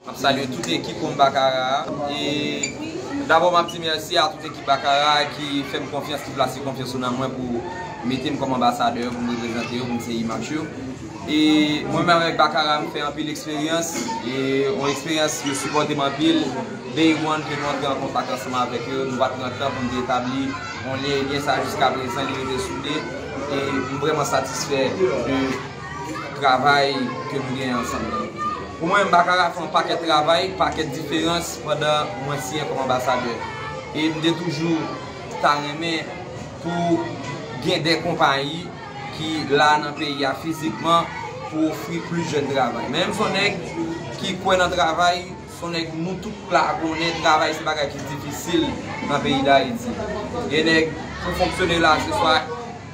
Map salye tout ekip Home Baccarat a e dabò map di mèsi a tout ekip Baccarat a ki fèm konfyans ki plase konfyans yo nan mwen pou metem kòm anbasadè yo poum reprezante yo poum se imach yo e mwen menm avèk Baccarat m fè anpil eksperyans e yon eksperyans yo sipòtem anpil day one ke nou antre an kontak ansanm avèk yo nou pat pran tan poun te etabli yon lyen ebyen sa jiskaprezan li rete soude e m vrèman satisfè de travay ke nou genyen ansanm nan. Pou mwen, m pa ka rafen yon pakèt travay, pakèt diferans pandan mwen siyen kòm anbasadè. E m te toujou ta renmen pou gen de konpayi ki la nan peyi a fizikman pou ofri plis jèn travay. Men m son nèg ki kwè nan travay, son nèg nou tout la konnen travay se bagay ki difisil nan peyi Dayiti. Gen nèg pou fonksyone la se swa.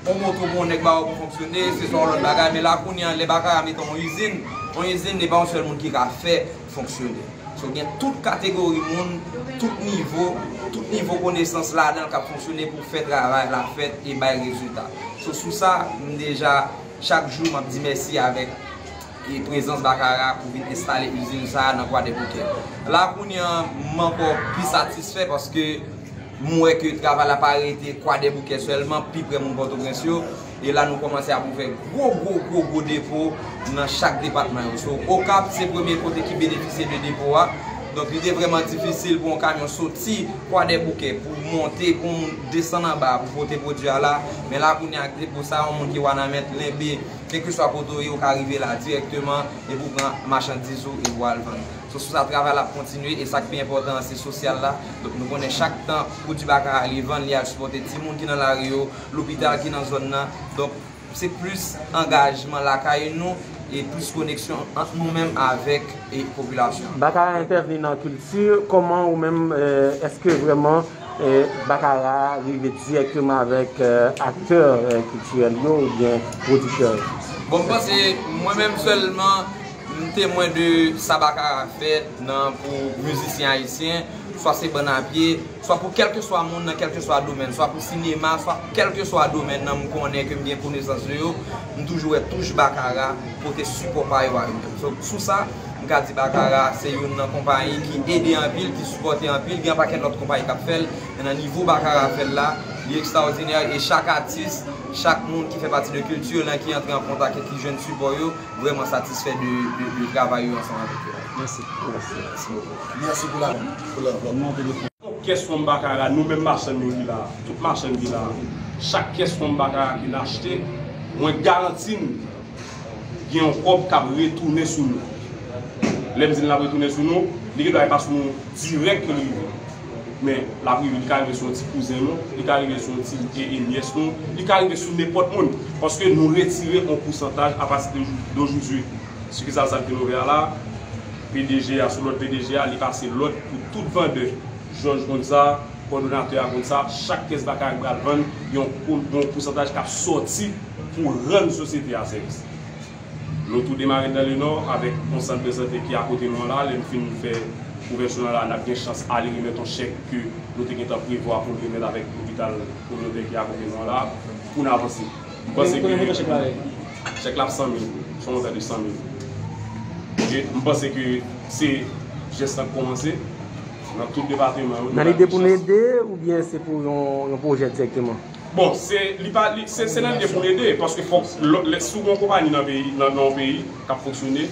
On moto pou on nèg ba ou pou fonksyone, se se on lòt bagay, men la kounye an lè bagay a mete on izin, on izin e pa on sèl moun ki ka fè fonksyone. So gen tout kategori moun, tout nivo, tout nivo konesans ladan l k ap fonksyone pou fè travay la fèt e bay rezilta. So sou sa, m deja chak jou m ap di mèsi avèk. e prezans Bakara pou vin enstale izin sa a nan Kwadèboukè. La kounye an, m ankò pi satisfè paske m wè ke travay la pa rete Kwadèboukè sèlman, pi prè moun Pòtoprens yo. E la nou kòmanse ap ouvè gwo gwo gwo gwo depo nan chak depatman yo. So, Okap se premye kote ki benefisye de depo a. Donk li te vrèman difisil pou yon kamyon soti Kwadèboukè pou monte pou yon moun desann anba pou pote pwodui a la. Men la kounye a ak depo sa a, yon moun ki Wanament, Lenbe, Kèlkeswa kote w ye, ou ka rive la dirèkteman epi w pran machandiz ou epi w al vann. Se sou sa travay la ap kontinye e sa k pi enpòtan an se sosyal la. Donk nou konnen chak tan pwodui Baka a li vann, li al sipòte timoun ki nan lari yo, lopital ki nan zòn nan. Donk se plis angajman lakay nou e plis koneksyon ant nou menm avèk popilasyon an. Baka a entèvni nan kilti, kòman ou menm, èske vrèman Bakara a rive dirèkteman avèk aktè kiltirèl yo oubyen pwodiktè yo? Bon, m panse mwen menm sèlman m temwen de sa Bakara fè nan pou mizisyen ayisyen, swa se bann a pye, swa pou kèlkeswa moun nan kèlkeswa domèn, swa pou sinema, swa pou kèlkeswa domèn nan m konnen, ke m gen konesans de yo, m toujou wè touch Bakara pote sipò pa yo a yo menm. Sou sa. M ka di Bakara se youn nan konpayi ki ede anpil, ki sipòte anpil, gen yon pakèt lòt konpayi k ap fè l, men nan nivo Bakara fè l la, li ekstraòdinè e chak atis, chak moun ki fè pati de kilti yo lan ki antre an kontak e ki jwenn sipò yo, vrèman satisfè de travay yo ansanm avèk yo a. Tout kès fon Bakara, nou menm machann yo ki la a, tout machann ki la a, chak kès fon Bakara ke n achte, mwen garanti n, gen yon kòb k ap retounen sou nou. Lè m di l l ap retounen sou nou, li gendwa e pa sou nou dirèk ke l rive. Men, l ap rive, li ka rive sou yon ti kouzen nou, li ka rive sou yon ti ee nyès nou, li ka rive sou nenpòt moun. Paske nou retire yon pousantaj apati de dojoudwi. Sikisal sa k vin ouvè a la, pdg a sou lòd pdg a, li pase lòd pou tout vandè. Jòj konn sa, kòdonatè a konn sa, chak pyès batay k pral vann, gen yon pousantaj k ap sòti. pou rann sosyete a sèvis. Nou tou demare nan Lenò avèk yon sant de sante ki akote nou an la, lè n fin fè ouvèti nan la n ap gen chans ale remèt yon chèk ke nou te gentan prevwa pou n remèt avèk lopital kominotè ki akote nou an la pou n avanse. M panse ke chèk la ap 100 mil goud, son montan de 100 mil goud. E m panse ke se jès la k kòmanse nan tout depateman yo. Nan lide pou n ede oubyen se pou yon pwojè dirèkteman? Bon, se li pa li se se nan lide pou l ede paske fòk lòt lè si w gen yon konpayi nan peyi nan yon peyi k ap fonksyone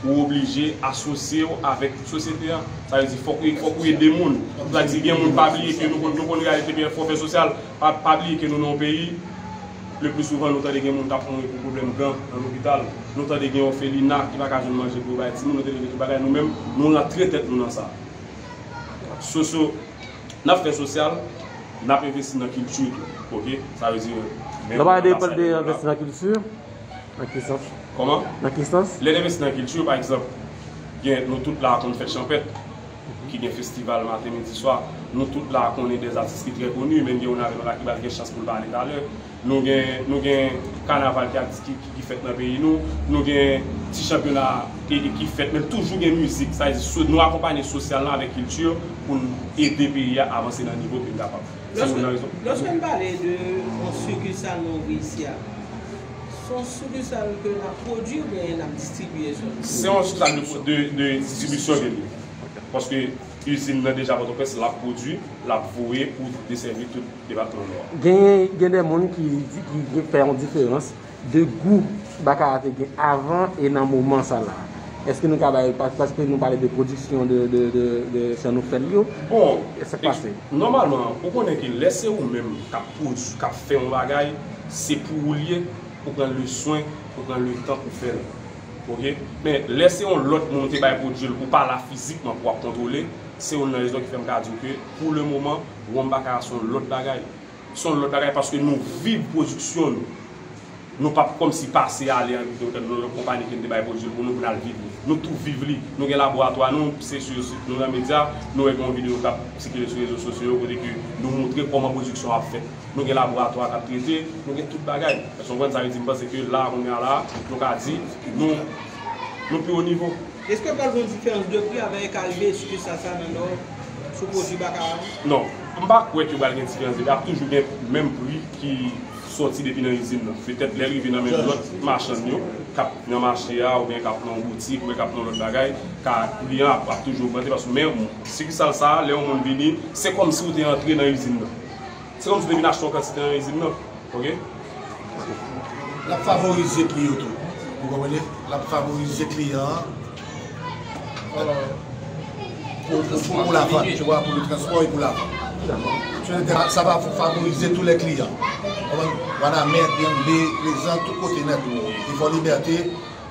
ou oblije asosye w avèk tout sosyete a sa vle di fòk fòk ou ede moun sa vle di gen moun pa bliye ke nou konn nou konn reyalite ke fòk fè sosyal pa pa bliye ke nou nan yon peyi le pli souvan nou tande gen moun k ap mouri pou pwoblèm gan nan lopital nou tande gen òfelina ki pa ka jwenn manje pou yo bay timoun nou tande gen tout bagay nou menm nou rantre tèt nou nan sa soso Nap fè sosyal, nap envesti nan kilti tou ok sa vle di menm nan anbasadè nou la. Nan ki sans? Kòman? Nan ki sans? Lè n envesti nan kilti pa egzanp gen nou tout la a konn fèt chanpèt ki gen festival maten midi swa, nou tout la a konnen dè atis ki trè koni menn gen youn avè nou la ki pral gen chans pou l pale talè. Nou gen nou gen kanaval ki ap ki ki fèt nan peyi nou. Nou gen ti chanpyona e ki fèt men toujou gen mizik. Sa vle di so nou akonpanye sosyal lan avèk kilti pou n ede peyi a avanse nan nivo ke n kapab. Se youn nan rezon. Lòske n pale de yon sikisal nou reyisi a, s on sikisal ke n ap pwodui oubyen n ap distribye sèlman? Se yon sikisal de de de distribisyon ke l ye. Paske izin nan deja Pòtoprens l ap pwodui, l ap voye pou desèvi tout. depatman Nò a. Genyen gen de moun ki gen fè yon diferans de gou bakara te gen avan e nan moman sa la. Eske nou ka bay, paske nou pale de pwodiksyon de jan nou fè l yo, e sa k pase? Nòmalman, ou konnen ke lè se ou menm k ap pwodui, k ap fè yon bagay, se pou ou l ye, ou pran le swen, ou pran le tan pou fè l. Ok? Men, lè se yon lòt moun ou te bay pwodui l, ou pa la fizikman pou w ap kontwole, se youn nan rezon ki fè m ka di w ke pou le moman, Ron Baccarat se yon lòt bagay. Se yon lòt bagay paske nou viv pwodiksyon nou. Nou pa p kòmsi pase ale an nan yon konpani ki vin te bay pwodui l pou nou pou n al viv li. Nou tou viv li. Nou gen laboratwa nou, se sou sit nou nan medya, nou wè gen yon videyo k ap sikile sou rezo sosyo yo kote ke nou montre kòman pwodiksyon ap fèt. Nou gen laboratwa k ap trete, nou gen tout bagay. Èske w konprann sa m vle di? M panse ke la a, kounya la a, nou ka di nou pi wo nivo. Eske pral gon diferans de pri avè eka rive esike sa sa nan nò sou pwodwi bakaran yo? Non, m pa kwè ke pral gen diferans de pri, ap toujou gen menm pri ki sòti depi nan izin nan. Petèt lèl rive nan men lòt machann yo kap nan mache a oubyen kap nan yon boutik oubyen kap nan yon lòt bagay ka pri an ap toujou ogmante paske men sikisal sa lè yon moun vini se kòmsi ou te antre nan izin nan. Se kòmsi depi n achte yon kantite nan izin nan ok. L ap favorize pri yo tou. Ou konprann? L ap favorize kliyan an pou la vann, tu wa, pou le transpò e pou la vann. Sa va favorize tou lè kliyan. Wanament, Byenvle, Plezan, tout kote nèt. Li fò libète.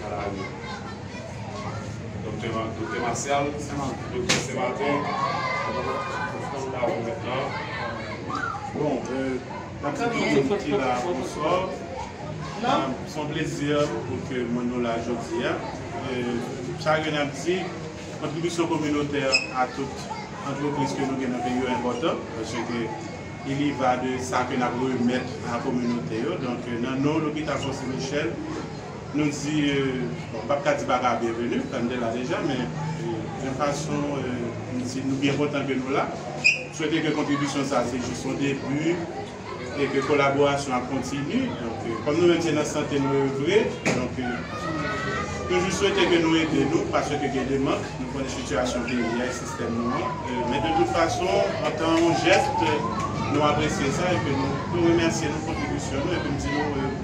Kalabari. Doktè Doktè Masyal Doktè Senmatè Ofrann la remèt la Bon Nap di tout moun ki la bonswa Son plezi pou ke mwen nou la jodi a Sa ke nap di Kontribisyon kominotè a tout antrepriz ke nou gen nan peyi yo enpòtan Pase ke il y va de sa ke nap remèt a kominote yo Donk nan non lopital Fonse Michèl Nou di, bon m pap ka di baka byenveni, tann de la deja, men yon fason m di nou byen kontan ke nou la. M swete ke kontribisyon sa se jis yon debi e ke kolaborasyon ap kontini. Donk, kòm nou menm se nan sante nou ye vre, donk toujou swete ke nou ede nou paske gen de mank, nou konnen sitiyasyon peyi a e sistèm nou an. Men de tout fason, antan yon jès, nou apresye sa e ke nou remèsye nou kontribisyon nou e ke m di nou.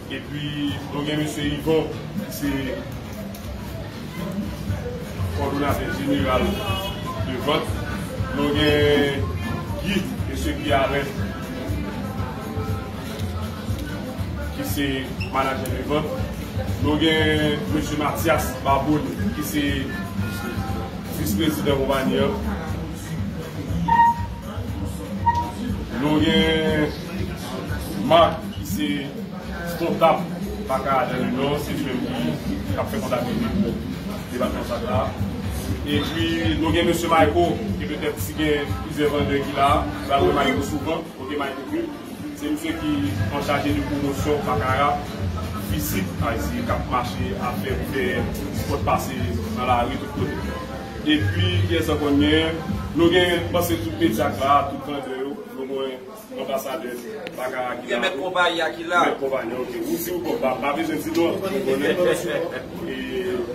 Epi nou gen Mesye Yvon ki se Kòdonatè Jeneral de Vant. Nou gen Guy, Mesye Guy Alain ki se Manajè de Vant. Nou gen Mesye Mathias Barbony ki se Vis Prezidan Konpayi an. Nou gen. Marc ki se kontab Baka a dan le nò se li menm ki ap fè kontablite pou depatman Baka a. Epi nou gen mesye Mayko ke petèt si gen plizyè vandè ki la a ki pral wè Mayko souvan, ok Mayko Prime. Se misye ki anchaje de pwomosyon Baccara fizik a eseye k ap mache ap fè pou fè spòt pase nan lari tout kote. Epi kiyès ankò n genyen? Nou gen panse tout medya k la a, tout vandè yo nou mwen. Anbasadè Bakara ki la. Gen mèt konpayi a ki la. Mèt konpayi a ok. Ou di ou bon m pa bezwen di non. Mwen konnen nou. E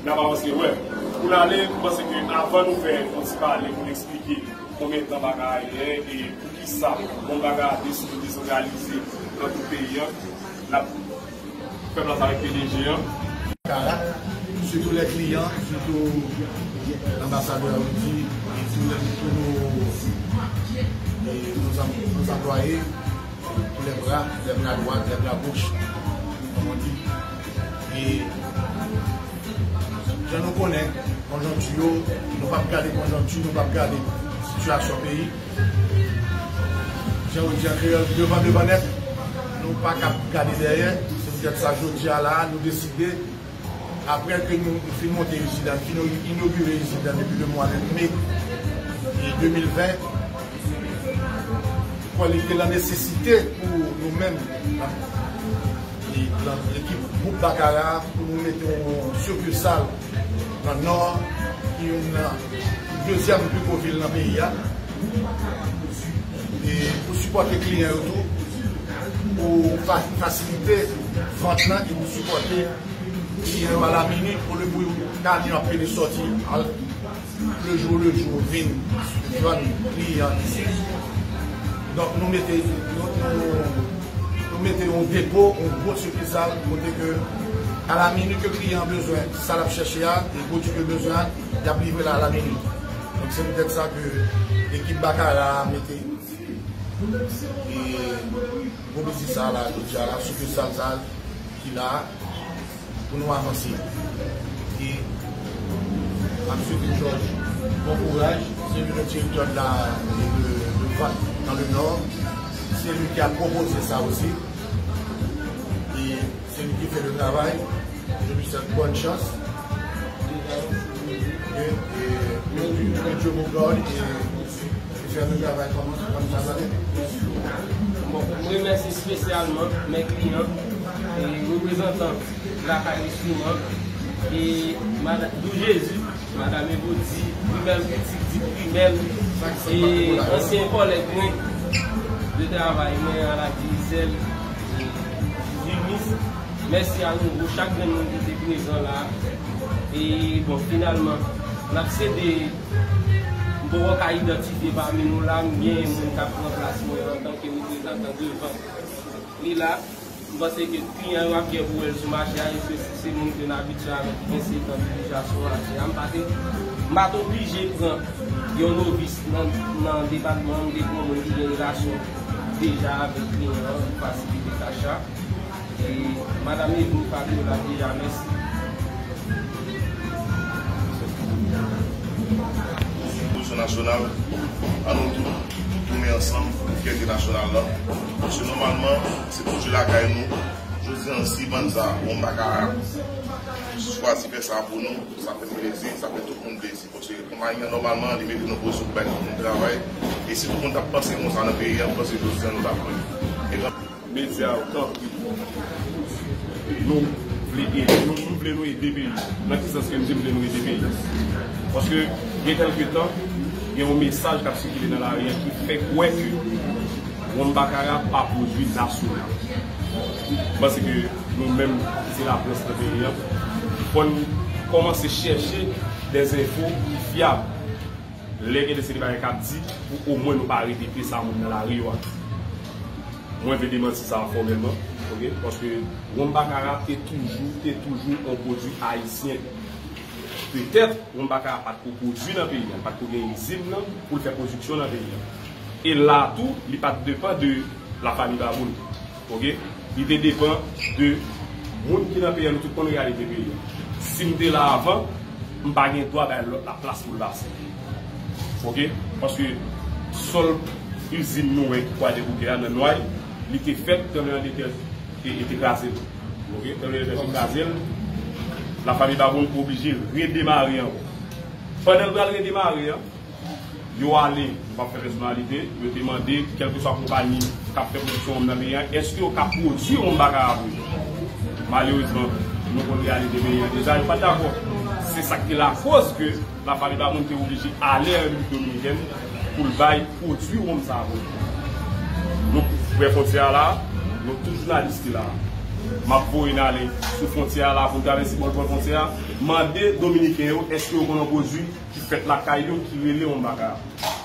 n ap avanse wè. Pou n ale m panse ke avan nou fè yon ti pale pou n eksplike konbyen tan Bakara genyen e poukisa bon Bakara deside desantralize nan tout peyi an. N ap. Fè plas avèk pdg an. Karak, sitou lè kliyan, sitou anbasadè a ou di, sitou lè nou tou nou anplwaye, lè bra, lè bra dwat, lè bra goch, kòm on di. E jan nou konnen konjonkti yo, nou pap gade konjonkti, nou pap gade sitiyasyon peyi. Jan yo di an kreyòl, devan devan nèt, nou pa ka ap gade dèyè. Se poutèt sa jodi a la a, nou deside, aprè ke nou fin monte izin nan, nou fin inogire izin nan depi lemwa de me 2020, kòm li te lan nesesite pou nou menm, lan ekip gwoup Bakara, pou nou mete yon sikilsal. Nan nò a, ki youn nan dezyèm pi gwo vil nan peyi a, e pou sipòte kliyan yo tou, pou fasilite vant lan e pou sipòte kliyan yo a la minit, olye pou yon kamyon ap pede sòti al. Le jour le jour vin jwenn kliyan li se sou. Donk nou mete nou mete yon depo, yon gwo sikisal kote ke a la minit ke kliyan bezwen sa l ap chèche a e pwodui ke l bezwen an y ap livre l a la minit. Donk se poutèt sa ke ekip Bakara a mete e gwo biznis sa a la jodi a la sikisal sa a ki la a. Pou nou avanse e ap swete jòj bon kouraj se li menm ki direktè de la de Vant dans le Nord se li ki a pwopoze sa osi e se li ki fè le travay je lui souhaite bonne chance que Dieu vous garde et M remèsi espesyalman men kliyan e reprezantan Lakay Enstriman e Madam Dou Jezi, Madam Evodi, Primèl Pitit di Primèl e ansyen kòlèg mwen de travay mwen a la Digicel e Jumis. Mèsi a nouvo chak grenn moun ki te prezan la a e bon finalman n ap sede M poko ka idantifye pami nou la m gen moun k ap pran plas mwen antanke reprezantan devan li la. M panse ke kliyan yo ap gen pou wè l sou mache a eske si se moun ke n abitye avè ki gen setan ki deja sou mache a. M pa te m pa t oblije pran yon novis nan depatman an, m te pran moun ki gen relasyon deja avèk kliyan an pou fasilite tach la. Madam ni bon kado la deja mèsi. Polisyon nasyonal an nou tout tounen ansanm pou fyète nasyonal la paske nòmalman se pwodui lakay nou jodi an si bann sa a moun pa ka chwazi fè sa pou nou sa fè m plezi sa fè tout moun plezi paske konpayi an nòmalman li mete nou nan pozisyon pou bay tout moun travay e si tout moun t ap panse konsa nan peyi a m panse jodi an nou t ap lwen. Media yo tanpri nou vle ede nou nou vle nou ede peyi nan ki sans ke m di m vle nou ede peyi paske gen kelke tan gen yon mesaj kap sikile nan lari an ki fè kwè ke Ron Bakara pa pwodwi nasyonal m panse ke nou menm ki se laprès nan peyi an fò n kòmanse chèche dè zenfo ki fyab. Lè gen de seri de bagay kap di pou omwen nou pa repete sa moun nan lari yo ap di. Mwen vle demanti sa a fòmèlman ok paske Wonm Bakara te toujou te toujou on pwodwi ayisyen. Petèt Wonm Bakara pat ko pwodwi nan peyi a, li pat ko gen izin nan pou l fè pwodiksyon nan peyi a. E la tou li pat depan de la Fanmi Baboul. Ok li te depan de Moun ki nan peyi nou tout konn reyalite peyi a sim te la avan m pa gen dwa bay lòt la plas poul pase ok paske sòl izin nou wè ki kwadèboukè a nan nway li te fèt tranbleman de tè te krazel ok tranbleman de tè te krazel la fanmi baboun oblije redemare ankò pandan l pral redemare an. yo ale, yo pa p fè pèsonalite, yo te mande kèlkeswa konpayi k ap fè pwodiksyon wonm nan peyi a, èske yo ka pwodui wonm baka a pou yo? Malerezman, nou konn reyalite peyi a deja, yo pa t dakò. Se sa k te lakoz ke Lafarri Baboun te oblije ale an Repiblik Dominikèn pou l bay pwodui wonm sa a pou yo. Nou pre fwontyè a la a, nou tout jounalis ki la a, m ap voye n ale sou fwontyè a la a pou n travèse bò lòt bò fwontyè a, mande Dominiken yo èske yo konn yon pwodui ki fèt lakay yo ki rele yon bagay ap touche.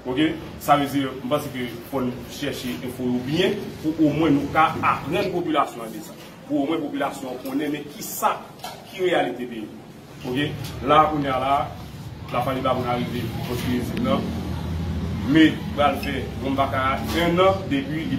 Ok sa vle di m panse ke fò n chèche enfo yo byen pou omwen nou ka aprann popilasyon an de sa. Pou omwen popilasyon an konnen men ki sa ki reyalite peyi nou. Ok la a kounye a la a Lafaliba vin arive konstwi izin nan. Me pral fè Wonbakara ennan depi li.